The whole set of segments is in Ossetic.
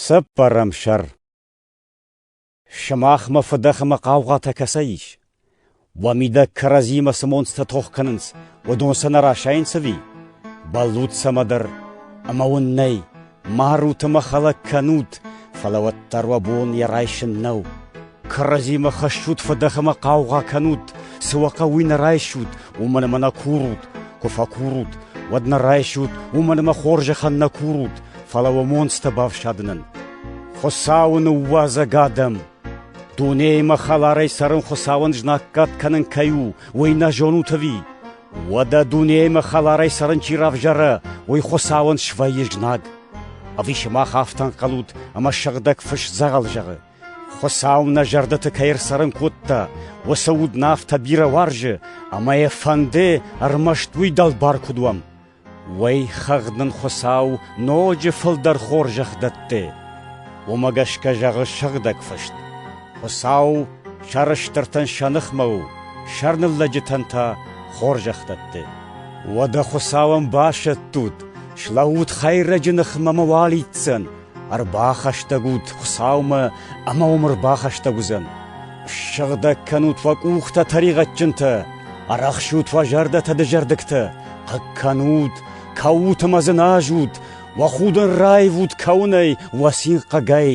Цӕппӕрӕм сӕр Сымахмӕ фыдӕх ӕмӕ хъаугъатӕ кӕцӕй ис? Уӕ мидӕг кӕрӕдзимӕ цы монцтӕ тох кӕнынц, уыдон сӕ нӕ расайынц ӕви? Бӕллут цӕмӕ дӕр, ӕмӕ уын нӕй, марут ӕмӕ хӕлӕг кӕнут, фӕлӕ уӕддӕр уӕ бон йӕ райсын нӕу. Кӕрӕдзимӕ хӕссут фыдӕх ӕмӕ хъаугъа кӕнут, цы уӕ хъӕуы, уый нӕ райсут, уымӕн ӕмӕ нӕ курут. Куы фӕкурут, уӕд нӕ райсут, уымӕн ӕмӕ хорзӕхӕн нӕ курут, фӕлӕ уӕ монцтӕ бафсадынӕн. Хуыцауы ныууадзӕг адӕм! Дунеимӕ хӕларӕй цӕрын Хуыцауӕн знаггад кӕнын кӕй у, уый нӕ зонут ӕви? Уӕдӕ дунеимӕ хӕларӕй цӕрын чи равзара, уый Хуыцауӕн свӕййы знаг. Ӕви сымах афтӕ ӕнхъӕлут, ӕмӕ сыгъдӕг фыс дзӕгъӕл зӕгъы? Хуыцау нӕ зӕрдӕты кӕй ӕрцӕрын кодта, уыцы уд нӕ афтӕ бирӕ уарзы, ӕмӕ йӕ фӕнды ӕрмӕст уый дӕлбар куыд уӕм. Уӕй хӕгъд нын Хуыцау ноджы фылдӕр хорзӕх дӕтты. Уымӕ гӕсгӕ зӕгъы Сыгъдӕг Фыст: Хуыцау сӕрыстыртӕн сӕ ныхмӕ у, сӕрныллӕджытӕн та хорзӕх дӕтты. Уӕдӕ Хуыцау ӕмбасӕттут, слӕуут Хӕйрӕджы ныхмӕ мӕ уал итдзӕн, Ӕрбахӕстӕг ут Хуыцаумӕ ӕмӕ уым ӕрбахӕстӕг уыдзӕн. Ссыгъдӕг кӕнут уӕ къухтӕ тӕригъӕдджынтӕ, арӕхсут уӕ зӕрдӕтӕ дызӕрдыгтӕ, хъыг кӕнут, кӕут ӕмӕ дзыназут, уӕ худын раивут кӕуынӕй уӕ цин хъыгӕй,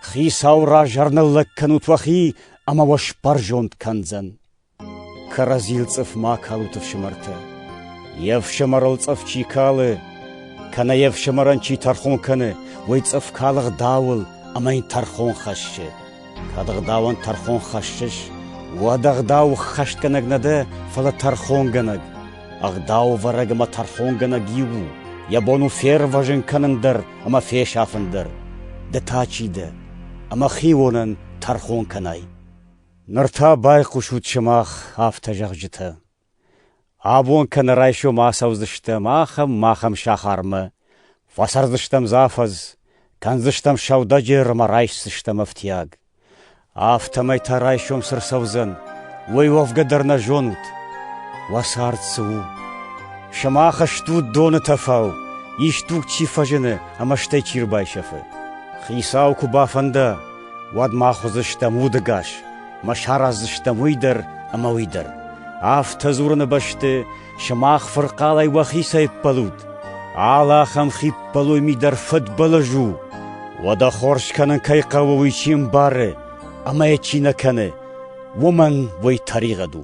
Хицауы раз ӕрныллӕг кӕнут уӕхи ӕмӕ уӕ сбӕрзонд кӕндзӕн. Кӕрӕдзийыл цъыф ма калут, ӕфсымӕртӕ. Йе фсымӕрыл цъыф чи калы, кӕнӕ йе фсымӕрӕн чи тӕрхон кӕны, уый цъыф калы гъдауыл ӕмӕ йын тӕрхон хӕссы. Кӕд гъдауӕн тӕрхон хӕссыс, уӕд ӕгъдау ххӕстгӕнӕг нӕ дӕ, фӕлӕ тӕрхонгӕнӕг. Ӕгъдаувӕрӕг ӕмӕ тӕрхонгӕнӕг иу у, йӕ бон у фервӕзын кӕнын дӕр ӕмӕ фесафын дӕр. Ды та чи дӕ, ӕмӕ хионӕн тӕрхон кӕнай? Ныр та байхъусут сымах афтӕ зӕгъджытӕ: абон кӕнӕ райсом ацӕудзыстӕм ахӕм-махӕм сахармӕ, фӕцӕрдзыстӕм дзы афӕдз, кӕндзыстӕм сӕудӕджер ӕмӕ райсдзыстӕм ӕфтиаг. афтӕмӕй та райсом цы рцӕудзӕн, уый уӕвгӕ дӕр нӕ зонут. Уӕ цард цы у? Сымах стут доны тӕфау, исдуг чи фӕзыны ӕмӕ стӕй чи рбайсӕфы. Хицау куы бафӕнда, уӕд мах уыдзыстӕм удыгас, ӕмӕ сараздзыстӕм уый дӕр ӕмӕ уый дӕр. Афтӕ дзурыны бӕсты сымах фырхъалӕй уӕхицӕй ӕппӕлут. Алы ахӕм хиппӕлой ми дӕр фыдбылыз у. Уӕдӕ хорз кӕнын кӕй хъӕуы, уый чи ӕмбары ӕмӕ йӕ чи нӕ кӕны, уымӕн уый тӕригъӕд у.